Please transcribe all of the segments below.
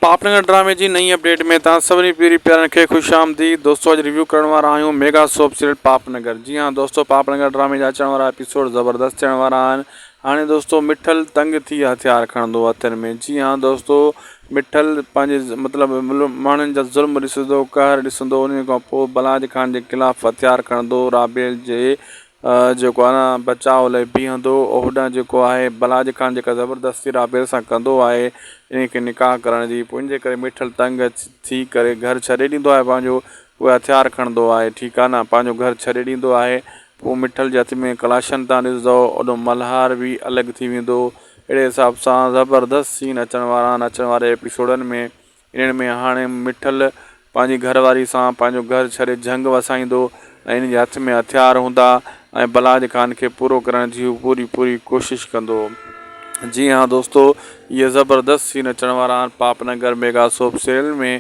پاپ نگر ڊرامي جي نئين اپڊيٽ ۾ توهان سڀني پيري پيارن کي خوش آمديد دوستو اڄ ريويو ڪرڻ وارا آهيون mega soap serial Paap Nagar جي ها دوستو پاپ نگر ڊرامي جا اچڻ وارا ايپيسوڊ زبردست ٿيڻ وارا آهن هاڻي دوستو مٺل تنگ ٿي هٿيار کڻندو هٿن ۾ جي ها دوستو مٺل پنهنجي مطلب ماڻهن جا ظلم ڏسندو قهر ڏسندو ان کان پوء بلاج خان جي خلاف هٿيار کڻندو رابيل جي جيڪو آنا بچاء لئي بيهندو هوڏانهن جيڪو آهي بلاج خان جيڪا زبردستي رابيل سان ڪندو آهي انهي کي نڪاح ڪرڻ جي پوء انجي ڪري ميٺل تنگ ٿي ڪري گهر ڇڏي ڏيندو آهي پنهنجو پوء هٿيار کڻندو آهي ٺيڪ آهي نه پنهنجو گهر ڇڏي ڏيندو آهي پوء ميٺل جي هٿ ۾ ڪلاشن تان ڏسندو اوڏو ملهار به الڳ ٿي ويندو اهڙي حساب سان زبردست سين اچڻ وارا آهن اچڻ واري ايپيسوڊن ۾ انهن ۾ هاڻي مٺل پنهنجي گهر واري سان پنهنجو گهر ڇڏي جهنگ وسائيندو ۽ ان جي هٿ ۾ هٿيار هوندا ۽ بلاج خان کي پورو ڪرڻ جي هو پوري پوري ڪوشش ڪندو. جي ها دوستو اهي زبردست سين اچڻ وارا آهن Paap Nagar mega soap serial ۾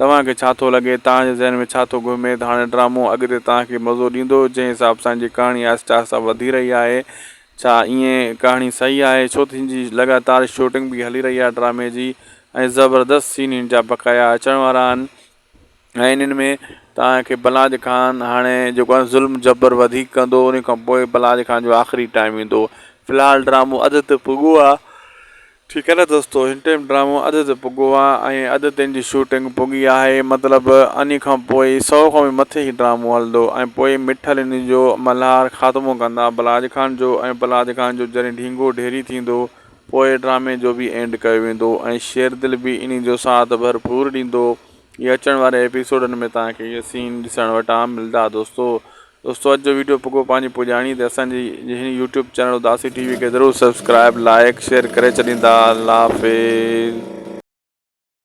توهان کي ڇا ٿو لڳي توهان جي ذهن ۾ ڇا ٿو گهمي ته هاڻي ڊرامو اڳتي توهان کي مزو ڏيندو جنهن حساب سان هن جي ڪهاڻي آهستي آهستي وڌي رهي آهي ڇا ائين ڪهاڻي صحيح آهي ڇو ته هن جي لڳاتار شوٽنگ به هلي رهي آهي ڊرامي جي ۽ زبردست سين هن جا بقايا اچڻ وارا آهن ۽ انهن ۾ توهان کي بلاج خان هاڻي جيڪو آهي ظلم جبر وڌيڪ ڪندو ان کان پوء بلاج خان جو آخري ٽائيم ايندو في الحال ڊرامو اڌ تي پڳو آهي ٺيڪ نه دوستو هن ٽيم ڊرامو اڌ تي پڳو آ ۽ اڌ تين جي شوٽنگ پڳي آهي مطلب انهي کان پوء سئو کان به مٿي هي ڊرامو هلندو ۽ پوء مٺل انهي جو ملهار خاتمو ڪندا بلاج خان جو ۽ بلاج خان جو جڏهن ڍينگو ڍيري ٿيندو پوء ڊرامي جو به اينڊ ڪيو ويندو ۽ شيردل به انهي جو ساٿ ڀرپور ڏيندو اهي اچڻ واري ايپيسوڊن ۾ توهان کي اهي سين ڏسڻ وٽان ملدا دوستو دوستو اڄ جو ويڊيو پڳو پنهنجي پڄاڻي تي اسان جي هن يوٽيوب چينل اداسي ٽي وي کي ضرور سبسڪرائيب لائيڪ شيئر ڪري ڇڏيندا الله حافظ.